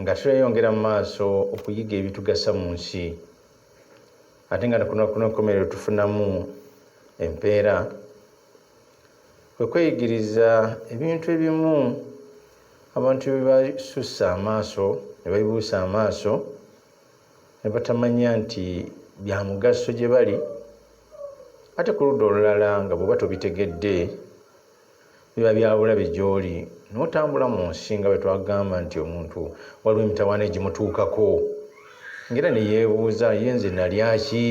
Nga tweyongera mu maaso okuyiga ebitugasa mu nsi, ate nga ku lunaku lw'enkomerero tufunamu empeera, kwe kweyigiriza ebintu ebimu abantu bye basussa amaaso ne babibuusa amaaso ne batamanya nti bya mugaso gye bali, ate ku ludda olulala nga bw'oba tobitegedde, Biba bya bulabe gy'oli n'otambula mu nsi nga bwe twagamba nti omuntu waliwo emitawaana egimutuukako ng'era ne yeebuuza ye nze nalya ki?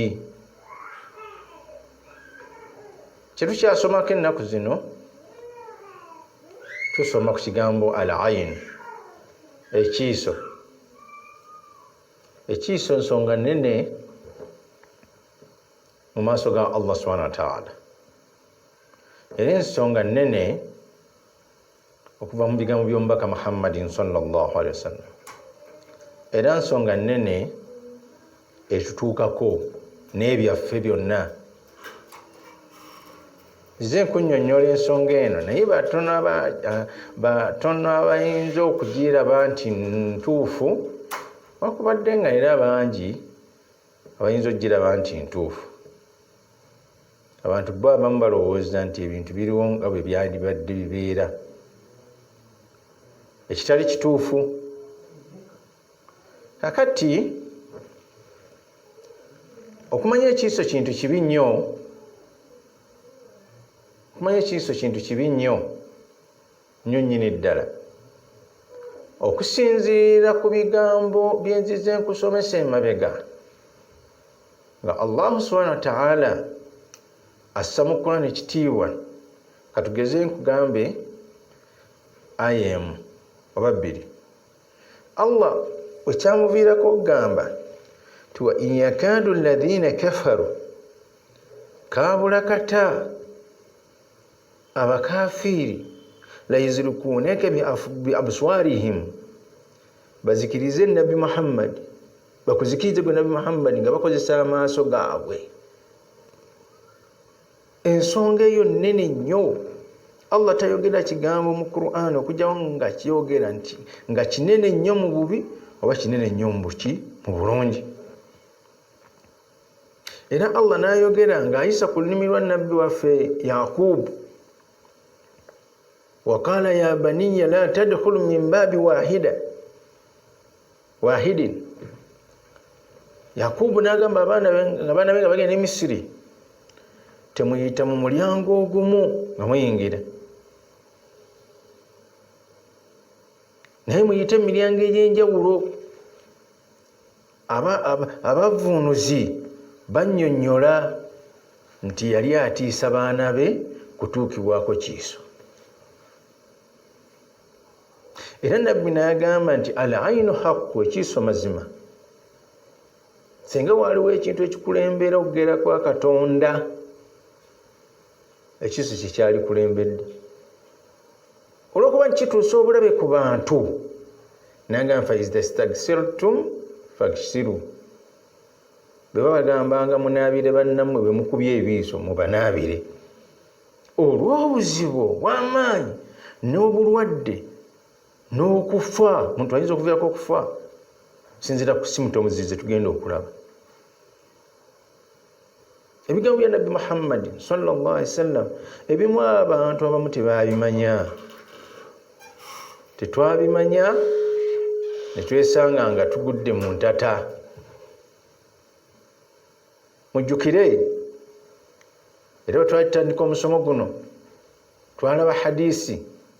Kye tukyasomako ennaku zino tusoma ku kigambo al ayin ekiiso ekiiso nsonga nene mu maaso ga allah subhana wataala era ensonga nnene okuva mu bigambo by'omubaka muhammadin salllah alihi wasallam era nsonga nnene etutuukako n'ebyaffe byonna nze nkunyonyola ensonga eno naye batono abayinza okugiraba nti ntuufu wakubadde nga era bangi abayinza okugiraba nti ntuufu abantu bo abamu balowooza nti ebintu biriwo nga bwe byandibadde bibeera ekitali kituufu kakati okumanya ekiiso kintu kibi nnyo okumanya ekiiso kintu kibi nnyo nyo nyini ddala okusinziira ku bigambo byenzize nkusomesa emabega nga allahu subhana wataala assa mu kurani ekitiibwa katugeze nkugambe aya emu oba bbiri allah wekyamuviirako okugamba ti wa in yakadu ladhina kafaru kabula kata abakafiiri layuzirikuuneke biabswarihim bazikirize nabbi muhammadi bakuzikirize gwe nabbi muhammadi nga bakozesa amaaso gaabwe ensonga eyo nene nnyo allah tayogera kigambo mu quran okujjawo nga kyogera nti nga kinene nnyo mu bubi oba kinene nnyo mubuki mu bulungi era allah nayogera ng'ayisa ku lulimi lwa nabbi waffe yakubu waqala ya baniya la tadkhulu min baabi wahida wahidin yakubu nagamba abaana be nga bagenda emisiri temuyita mu mulyango ogumu nga muyingira naye muyite emiryango egyenjawulo Abavvuunuzi bannyonnyola nti yali atiisa baana be kutuukibwako kiiso. Era nabbi n'agamba nti al ainu haqqu ekiiso mazima. Singa waaliwo ekintu ekikulembera okugera kwa Katonda, ekiiso kye kyalikulembedde. olwokuba nti kituusa obulabe ku bantu nagamba faizdastagsirtum fagsiru bwe babagambanga munaabire bannammwe bwe mukubye ebiiso mubanaabire olw'obuzibu obw'amaanyi n'obulwadde n'okufa muntu ayinza okuviirako okufa sinzira ku simutomuzize tugenda okulaba ebigambo bya nabbi muhammadi sawasalam ebimu abantu abamu tebabimanya tetwabimanya netwesanga nga tugudde mu ntata mujjukire era bwetwatandika omusomo guno twalaba hadisi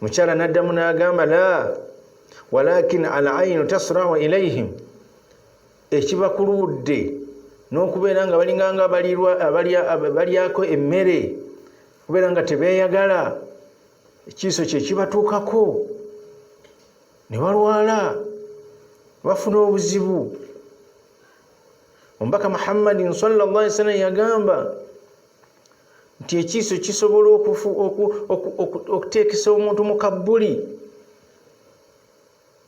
mukyala naddamu n'agamba la walakin al ainu tasrawa ilaihim ekiba ku ludde n'okubeera nga balinganga balyako emmere kubeera nga tebeeyagala ekiiso kye kibatuukako ne balwala bafuna obuzibu omubaka muhammadin salllah sallam yagamba nti ekiiso kisobola okuteekesa omuntu mu kabbuli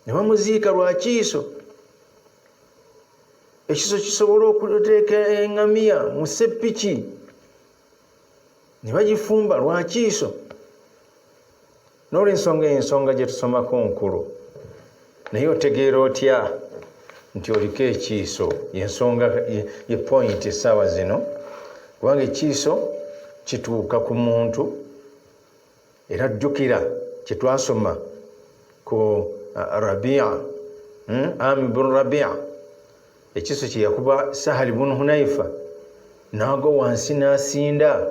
ne bamuziika lwa kiiso ekiso kisobola okuteeka engamiya mu seppiki ne bagifumba lwakiiso n'olwensonga eyo ensonga gye tusomako nkulu naye otegeera otya nti oliko ekiiso yensonga ye pointi essaawa zino kubanga ekiiso kituuka ku muntu era jjukira kye twasoma ku uh, rabia hmm? ami bun rabia ekiso kye yakuba sahali bunu hunaifa n'agwa wansi n'asinda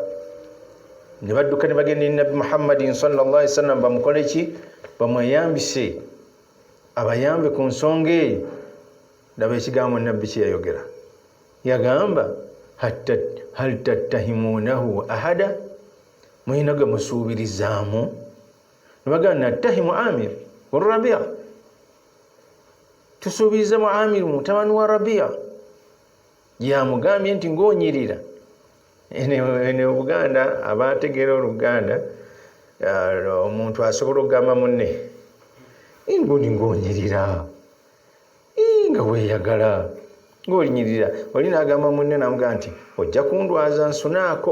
ne badduka ne bagenda eri nabbi muhammadin salllahi sallam bamukole ki bamweyambise abayambe ku nsonga eyo laba ekigambo nabbi kyeyayogera yagamba hal tattahimunahu ahada mulina gwe musuubirizaamu nebagamba nattahimu amir olurabia tusuubirize mu amiru mutabani wa rabia yamugambye nti ngaonyirira ene obuganda abategeera oluganda uh, omuntu asobola okugamba munne ngoni ngaonyirira nga weyagala ngaolinyirira oli nagamba munne namugaa nti ojja kundwaza nsunaako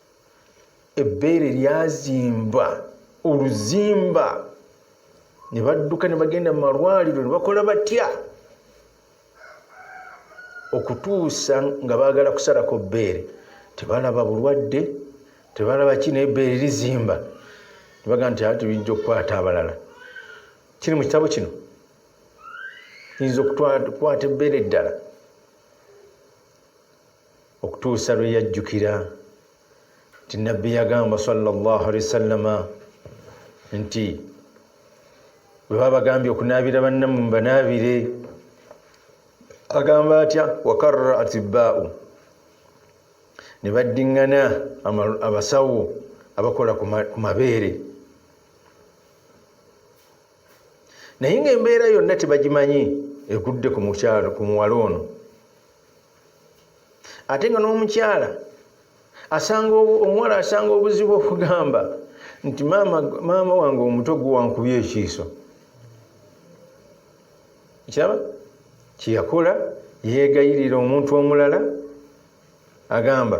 ebbeere lyazimba oluzimba ne badduka ne bagenda mu malwaliro ne bakola batya okutuusa nga baagala kusalako bbeere tebalaba bulwadde tebalaba ki naye bbeere lizimba nebaga nti ati biyinza okukwata abalala kiri mu kitabo kino yinza okukwata ebbeere eddala okutuusa lwe yajjukira nti nabbi yagamba sallallahu alaihi wasallama nti bwe babagambye okunaabira bannamu mbanaabire agamba atya wakarra atibbaau ne baddiŋŋana abasawo abakola ku mabeere naye ng'embeera yonna tebagimanyi egudde ku mukyalo ku muwala ono ate nga n'omukyala asanga omuwala asanga obuzibu okugamba nti maama maama wange omuto guwankuby ekiiso kiraba kyeyakola yeegayirira omuntu omulala agamba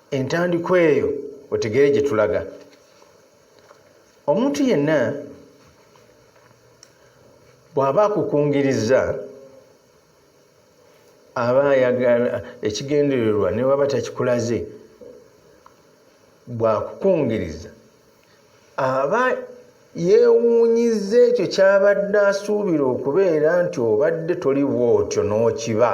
entandikwa eyo otegere gye tulaga omuntu yenna bw'aba akukungiriza aba ayagala ekigendererwa ne waba takikulaze bw'akukungiriza aba yeewuunyiza ekyo ky'abadde asuubira okubeera nti obadde toli bw'otyo n'okiba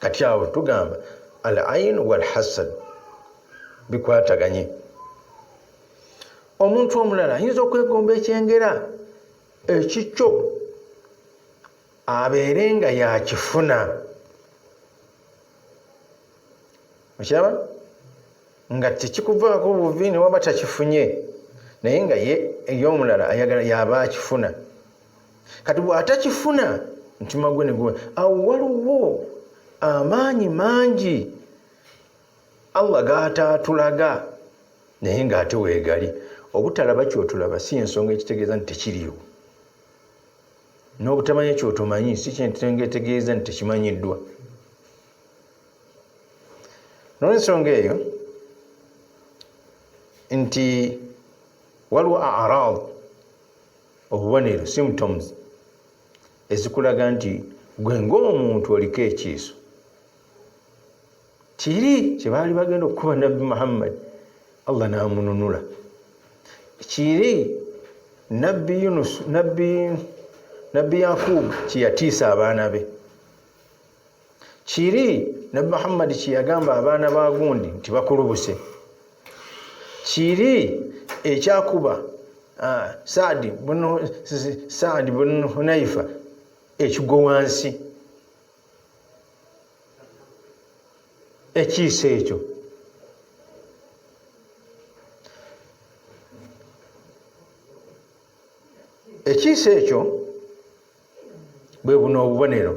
kati awo tugamba al ain walhasad bikwataganye omuntu omulala ayinza okwegomba ekyengera ekikyo abeere nga yakifuna okiraba nga tekikuvaako buvi newaba takifunye naye nga ye eyomulala ayagala yaba akifuna kati bwatakifuna mutima gwe neguwa awo waliwo amaanyi mangi allah gataatulaga naye ngaate weegali obutalaba kyotulaba si ensonga ekitegeeza nti tekiriwo n'obutamanya kyotomanyi si kyentenga etegeeza nti tekimanyiddwa nolwensonga eyo nti waliwo arad obubonero symptoms ezikulaga nti gwe ngaomuntu oliko ekiiso kiri kyebaali bagenda okukuba nabbi muhammadi allah namununula kiri nabbi yunus nabbi nabbi yakubu kyeyatiisa abaana be kiri nabi muhammadi kyeyagamba abaana ba gundi nti bakulubuse kiri ekyakuba ah, saadi saadi bun hunaifa ekigwo wansi ekiisa ekyo ekiisa ekyo bwe buno obubonero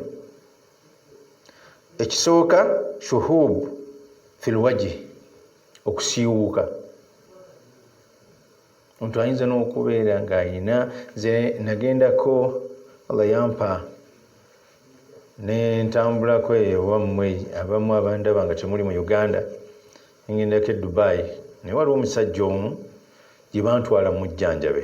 ekisooka shuhub filwaji okusiiwuuka omuntu ayinza n'okubeera ng'ayina ze nagendako allah yampa nentambulako eyo wammwe abamu abandaba nga kyemuli mu uganda nengendako e dubai naye waliwo omusajja omu gye bantwala mujjanjabe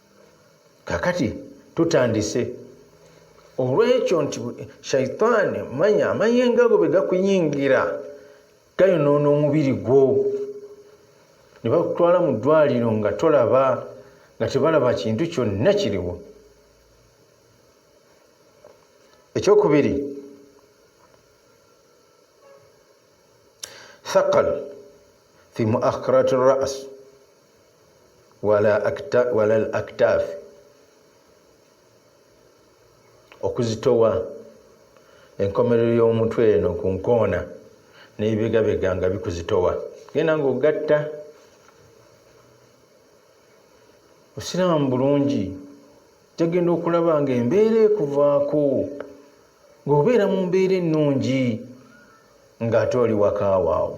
kakati tutandise olwekyo nti shaitaani manya amayenga go begakuyingira gayonoona omubiri gwo ne bakutwala mu ddwaliro nga tolaba nga tebalaba kintu kyonna kiriwo ekyokubiri thakal fi muakhirati ras wala al aktaafi okuzitowa enkomerero y'omutwe eno ku nkoona n'ebibegabega nga bikuzitowa genda ng'ogatta osiraamu bulungi jagenda okulaba nga embeera ekuvaako ng'obeera mu mbeera ennungi ng'ate oli wakaawaawo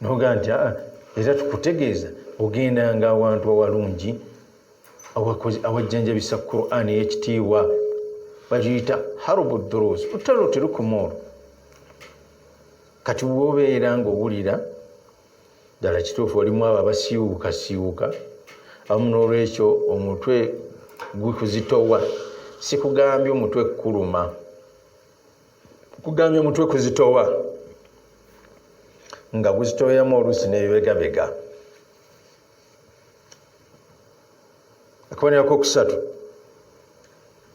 nogaa nti aa era tukutegeeza ogendanga awantu awalungi awajjanjabisa quran eyekitiibwa bagiyita harubu durus lutalo terukuma olwo kati wobeera ngaowulira ddala kituufu olimu abo abasiiwuuka siiwuka abamu n'olwekyo omutwe gukuzitowa sikugambye omutwe kukuluma kugambye omutwe kuzitowa nga guzitoyamu oluusi nebibegabega akuboneraku okusatu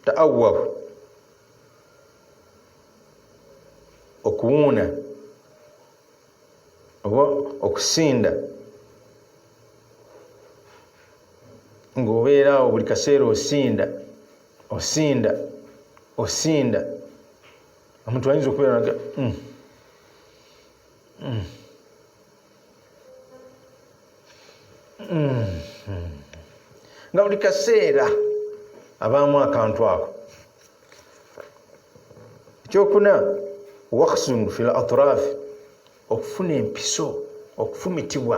taawahu okuwuuna oba okusinda ng'obeeraawo buli kaseera osinda osinda osinda omuntu ayinza okubeera naga mm. mm. mm. mm. nga buli kaseera abaamu akantu ako ekyokuna waksun fi latraf okufuna empiso okufumitibwa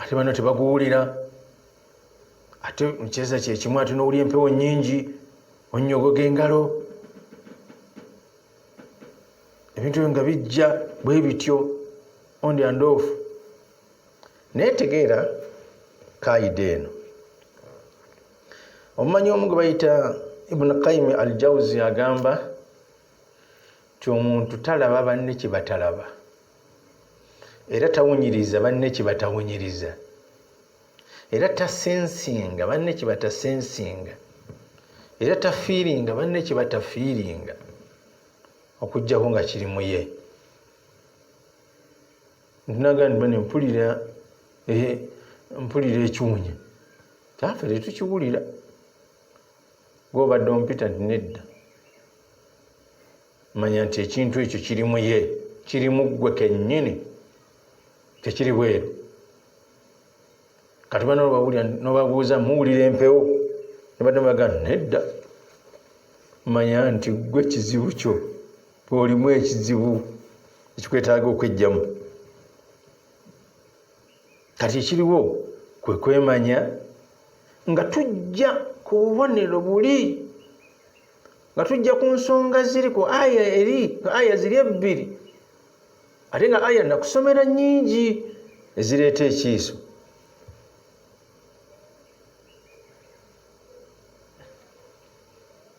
ate bano tebaguwulira ate mukiseeza kyekimu ate nowulya empewo nyingi onyogoga engalo ebintu ebyo nga bijja bwe bityo ondi andoofu naye tegeera kaida eno omumanyi omu gwe bayita ibuni kaimi al jauzi agamba nti omuntu talaba banne kye batalaba era tawunyiriza banne kye batawunyiriza era tasensinga banne kye batasensinga era tafiiringa banne kye batafiiringa okuggyako nga kiri mu ye ntunaga nti bane mpulira eh, mpulira ekiwunya kyafe tetukiwulira gwobadde ompita nti nedda manya nti ekintu ekyo kiri muye kiri muggwe kennyini tekiri bweru kati bana obawulira nobabuuza muwulira empewo nebadde mubaga nedda manya nti gwe ekizibu kyo olimu ekizibu ekikwetaaga okwejjamu kati ekiriwo kwe kwemanya nga tujja ku bubonero buli nga tujja ku nsonga ziri ku aya eri aya ziri ebbiri ate nga aya nakusomera nyingi ezireeta ekiiso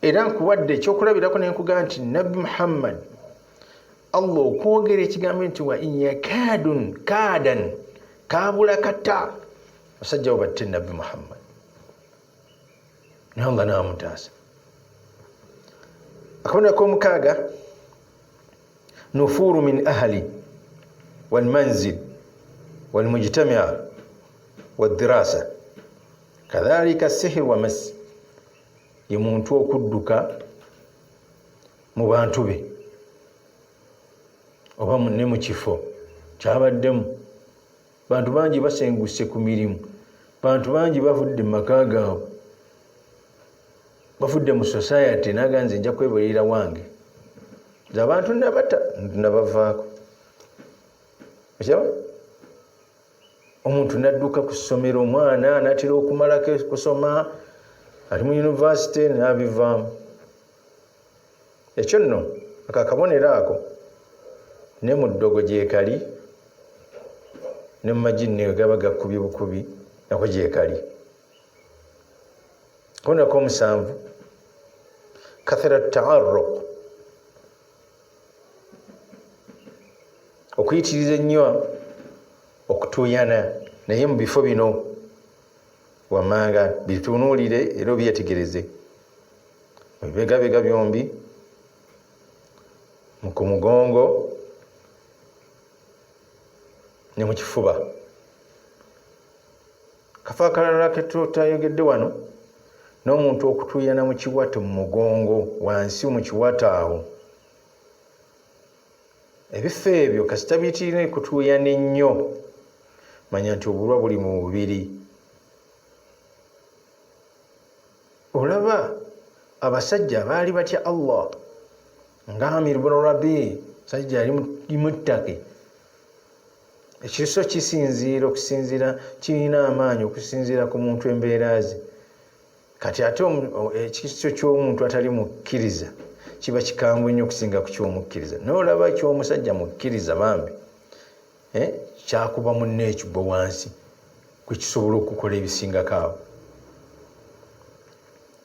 era nkuwadde ekyokulabirako ne nkugaa nti nabbi muhammad allah okwogera ekigambo nti wa inyakaadun kaadan kaabula kata basajja bo batte nabbi muhammad naye allah naamutaasa akabonero komukaaga nufuuru min ahali walmanzil walmujtamia wadirasa kadhalika sihir wa masi ye muntu okudduka mu bantu be oba ne mu kifo kyabaddemu bantu bangi basenguse ku mirimu bantu bangi bavudde mu maka gaabwe bavudde mu society naga nze nja kwebuliira wange nze abantu nabata nabavaako okyaba omuntu nadduka ku ssomero omwana anatera okumalako kusoma ali mu yunivasite nabivaamu ekyo nno akakabonero ako ne mu ddogo gyekali ne mu magi nneyo gaba gakubi bukubi nako gyekali konako omusanvu kathera taaruq okuyitiriza ennyo okutuuyana naye mu bifo bino wammanga bitunuulire era obyetegereze mu bibegabega byombi ku mugongo ne mu kifuba kafo akalala ketutayogedde wano n'omuntu okutuuyana mu kiwato mu mugongo wansi mu kiwato awo ebifo ebyo kasita bitirina ekutuuyana ennyo manya nti obulwa buli mu bubiri olaba abasajja baali batya allah nga amir bunu rabi sajja yali muttaki ekiriso kisinziira okusinziira kirina amaanyi okusinziira ku muntu embeera ze kati ate ekiriso ky'omuntu atali mukkiriza kiba kikambwe nnyo okusinga ku kyomukkiriza naye olaba ekyomusajja mukkiriza bambi eh, kyakuba munne ekigwa wansi kwekisobola okukola ebisingako awo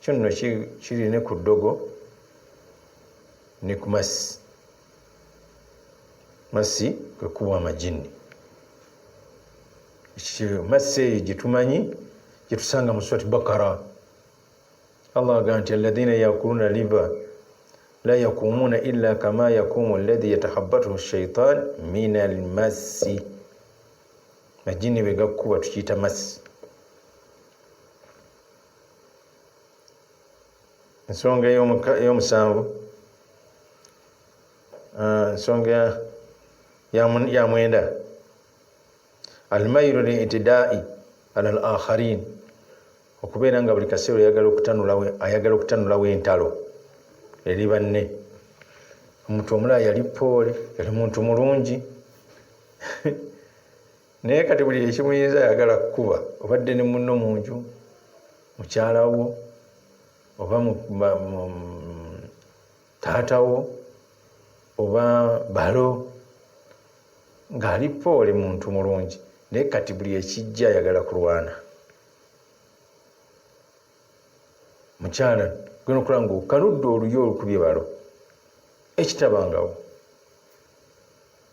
kyo nno kiri ne ku ddogo ne ku masi masi kwe kuwa amajinni masi eyo gye tumanyi gye tusanga mu swati bakara allah aga nti alladhina yakuluna liba la yakumuuna illa kama yakumu alladhi yatahabatuhu shaitan min almasi majinni bwe gakkuba tukiyita masi ensonga eyomusanvu ah, ensonga ya mwenda almairu litidai ala al akharin okubeera nga buli kaseera ayagala okutanulawo entalo eri banne omuntu omulala yali poole yali muntu mulungi naye kati buli ekimuyinza ayagala kukuba obadde ne munno mu nju mukyala wo oba taata wo oba balo ng'ali poole muntu mulungi naye kati buli ekijja ayagala kulwana mukyala gena okulaba nga okaludde oluyo olukubye balo ekitabangawo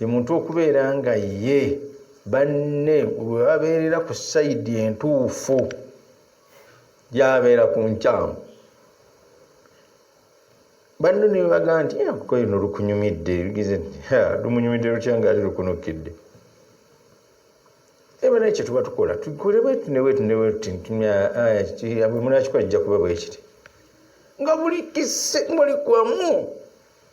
ye muntu okubeera nga ye banne webabeerera ku sayidi entuufu gyabeera ku nkyamu banno nebagamba nti eh, kuko ino lukunyumidde ebigize nti lumunyumidde lutya nga ali lukunukidde eba naye kyetuba tukola tukole bwetu nebwetu nebwetu ntimunakikola kijja kuba bwekiti nga buli kise muli kwamu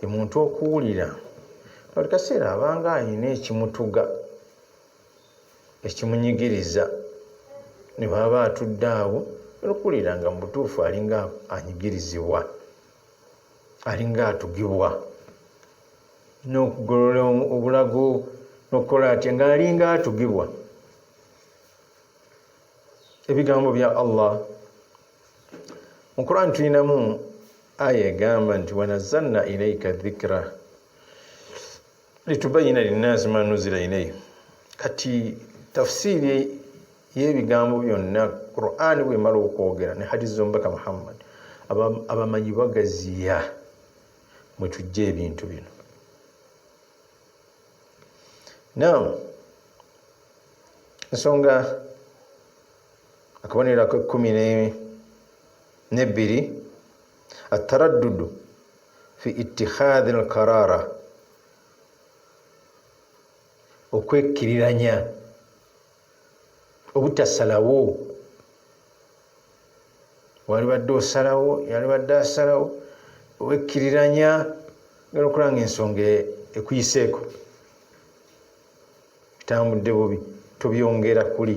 ye muntu okuwulira buli kaseera abanga alina ekimutuga ekimunyigiriza ne bwaba atudde awo nokuwulira nga mu butuufu alinga anyigirizibwa alinga atugibwa n'okugolola obulago n'okukola atya ng'alinga atugibwa ebigambo bya allah mu quran tulinamu aya egamba nti wanazalna ilaika dhikra litubayina linnaasi ma nuzila ilaihi kati tafsiiri y'ebigambo byonna qurani bwemala okwogera ne hadisi z'omubaka muhammad abamanyi bagaziya mwe tujja ebintu bino now nsonga akabonero akekumi nebbiri ataraddudu fi ittikhadhi lkarara okwekkiriranya obutasalawo walibadde osalawo yalibadde asalawo owekkiriranya gala okulaba nga ensonga ekuyiseeko bitambudde bubi tobyongera kuli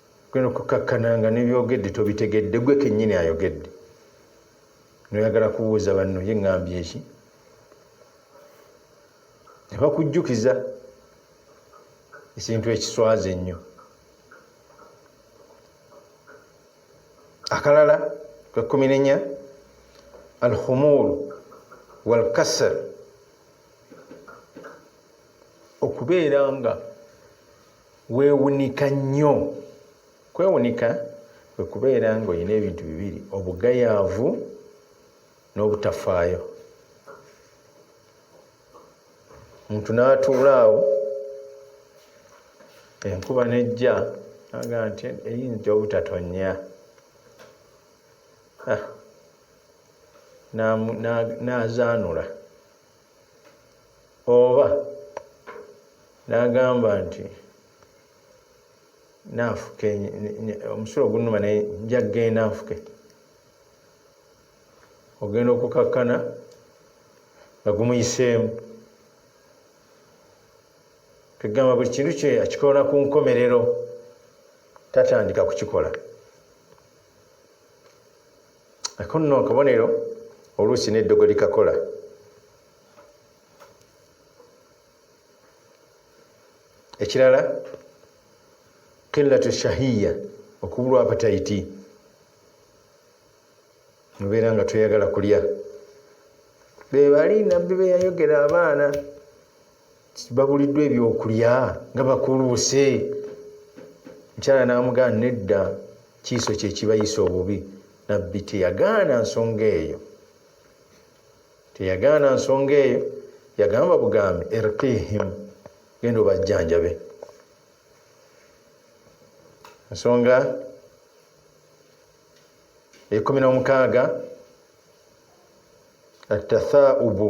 Genda okukakkana nga nebyogedde tobitegedde gwe kenyini ayogedde noyagala kubuuza banno ye ŋambye eki nebakujjukiza ekintu ekiswaza ennyo akalala kwekkumi nenya alhumur walkasar okubeera nga Weewunika nnyo. Kwewunika kwe kubeera ng'olina ebintu bibiri, obugayaavu n'obutafaayo. Omuntu n'atuula awo enkuba n'ejja aga nti eyinza obutatonnya ah, n'azaanula. oba n'agamba nti naafuke omusulo ogunuma naye nja kugenda nfuke ogenda okukakkana nga gumuyiseemu tugamba buli kintu kye akikola ku nkomerero tatandika kukikola ako nno akabonero oluusi n'eddogo likakola ekirala qillatu shahiya okubulwa apatayiti mubeera nga tweyagala kulya bebali nabbi beyayogera abaana babuliddwa ebyokulya nga bakuluuse mukyala n'amugana nedda kiiso kyekibayisa obubi nabbi teyagaana nsonga eyo teyagaana nsonga eyo yagamba bugambi erqihim genda obajjanjabe ensonga ekumi nomukaaga atathaubu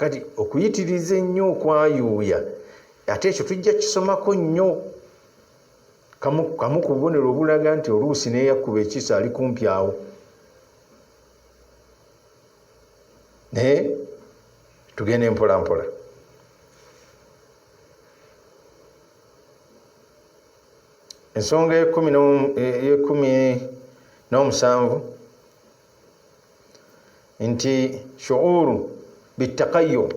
kati okuyitiriza ennyo okwayuuya ate ekyo tujja kisomako nnyo kamu ku bubonero obulaga nti oluusi neyakkuba ekiso ali kumpi awo naye tugende mpolampola ensonga eyekumi n'omusanvu nti shuuru bitakayo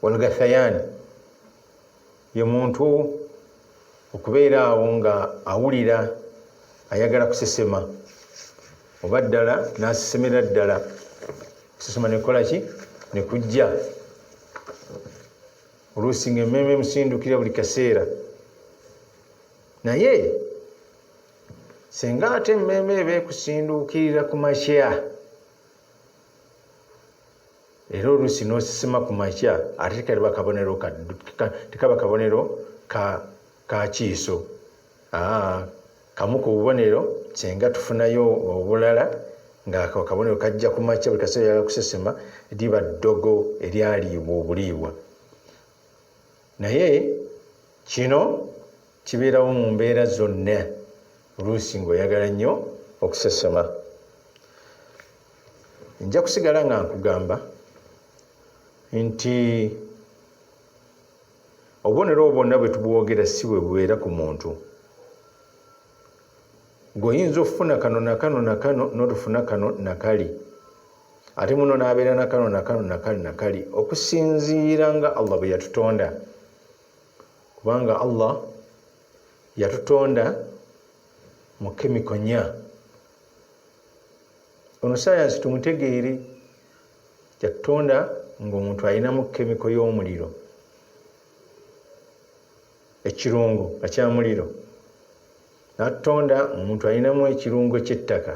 walgathayani ye muntu okubeera awo nga awulira ayagala kusesema oba ddala nasesemera ddala kusesema nekola ki nekujja oluusi nga emmeeme emusindukira buli kaseera naye singa ate emmeeme eba ekusinduukirira ku makya era oluusi n'osisima ku makya ate tekaliba kabonero tekaba kabonero ka kiiso kamu ku bubonero singa tufunayo obulala ngaako akabonero kajja ku makya buli kaseera yala kusesema liba ddogo eryaliibwa obuliibwa naye kino kibeerawo mu mbeera zonna oluusi ng'oyagala nnyo okusesema nja kusigala nga nkugamba nti obubonero obwonna bwe tubwogera si bwe bubeera ku muntu goyinza okufuna kano nakano nakano notufuna kano nakali ate muno nabeera nakano nakano nakali nakali okusinziira nga allah bwe yatutonda kubanga allah yatutonda mu kemiko nya ono sayansi tumutegeere yatutonda ngaomuntu alinamu kemiko y'omuliro ekirungo nga kya muliro n'atutonda omuntu alinamu ekirungo ky'ettaka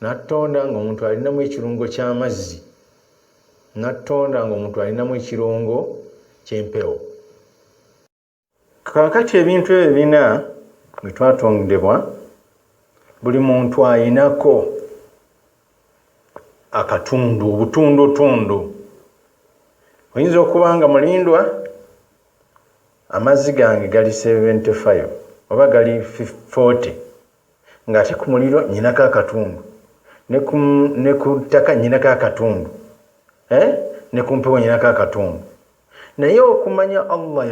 n'atutonda ng'omuntu alinamu ekirungo ky'amazzi n'atutonda ng'omuntu alinamu ekirungo ky'empewo kakati ebintu ebyo bina bwe twatondebwa buli muntu ayinako akatundu obutundutundu oyinza okuba nga mulindwa amazzi gange gali 75 oba gali 40 ng'ate ku muliro nyinako akatundu ne ku ttaka nyinako akatundu eh? ne ku mpewo nyinako akatundu naye okumanya allah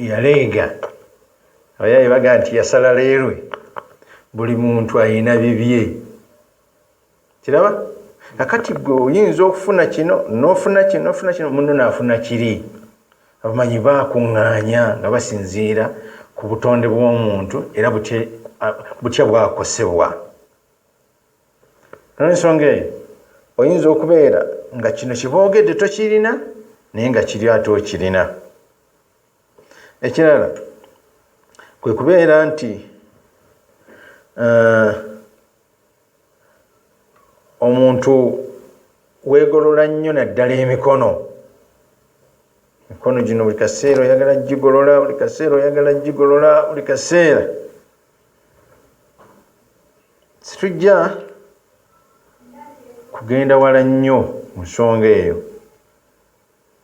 yaleega abayaye baga nti yasala leerwe buli muntu ayina bibye kiraba akati gwe oyinza okufuna kino nofuna kino nofuna kino muno nafuna kiri abamanyi bakuŋŋaanya nga basinziira ku butonde bw'omuntu era butya bwakosebwa Olw'ensonga eyo, oyinza okubeera nga kino kye boogedde tokirina naye nga kiri ate okirina. Ekirala kwe kubeera nti eh, omuntu weegolola nnyo naddala emikono emikono gino buli kaseera oyagala gigolola buli kaseera oyagala gigolola buli kaseera situjja kugenda wala nnyo mu nsonga eyo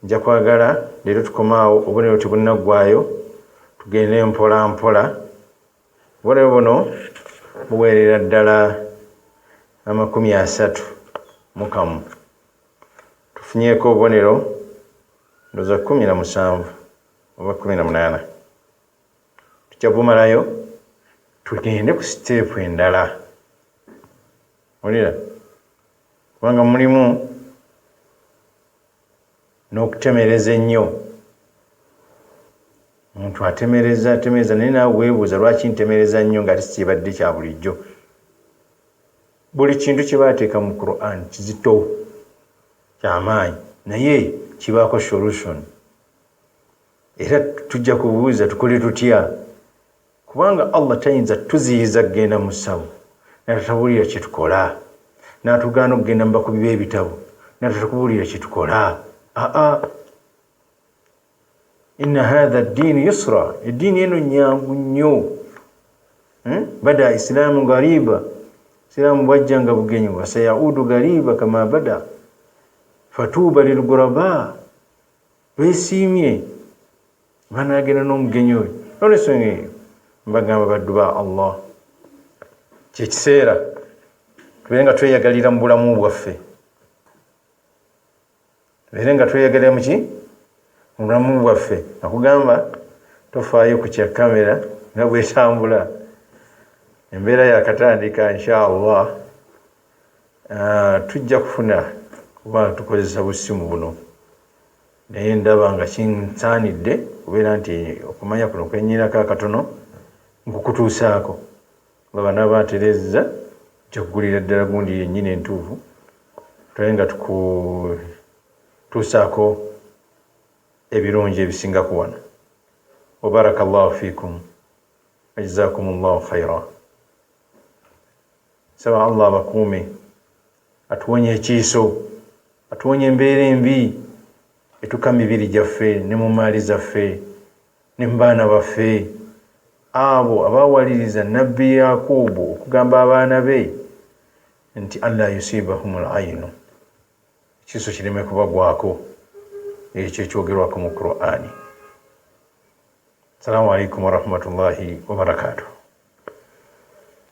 nja kwagala leero tukomaawo obubonero tebunaggwayo tugende mpola mpola obubonero buno buweerera ddala amakumi asatu mukamu tufunyeeko obubonero ndoza kumi na musanvu oba kumi na munaana tujja kumalayo tugende ku siteepu endala olira kubanga mulimu n'okutemereza ennyo omuntu atemereza atemereza naye naawe weebuuza lwaki ntemereza nnyo nga tisi kyebadde kya bulijjo buli kintu kye baateeka mu quran kizito kyamaanyi naye kibaako solution Era tujja kubuuza tukole tutya kubanga Allah tayinza tuziyiza kugenda mu ssawo natatabuulira kyetukola natugaana okugenda mubakubi b'ebitabo natatakubuulira kyetukola aa inna hatha ddiini yusra eddiini eno nyangu nnyo hmm? bada isilaamu gariba siraamu bwajja nga bugenyi wasayaudu gariba kama bada fatuuba lilguraba besiimye banagenda n'omugenyi oyo nolwensonga eyo mbagamba baddu ba allah kyekiseera tubeere nga tweyagalira mu bulamu bwaffe tubeere nga tweyagalira muki mu bulamu bwaffe nakugamba tofaayo ku kya kamera nga bwetambula embeera yakatandika insha allah Ah, tujja kufuna kuba tukozesa busimu buno naye ndaba nga kinsaanidde kubeera nti okumanya kuno kwenyinako akatono nkukutuusaako nga banaaba aterezza njakuggulira ddala gundi yennyini entuufu tulabe nga tukutuusaako ebirungi ebisingaku wano wabaraka llahu fikum wajazakum llahu khaira Nsaba Allah abakuume, atuwonye ekiiso, atuwonye embeera embi etuka mibiri gyaffe ne mu mmaali zaffe ne mu baana baffe. Abo abaawaliriza Nabbi Yaakuubu okugamba abaana be nti Allaa yusiibahumul aynu, ekiiso kireme kubagwako, ekyo ekyogerwako mu Kuraani. Salaamu Alaikum Warahmatullahi Wabarakatuh.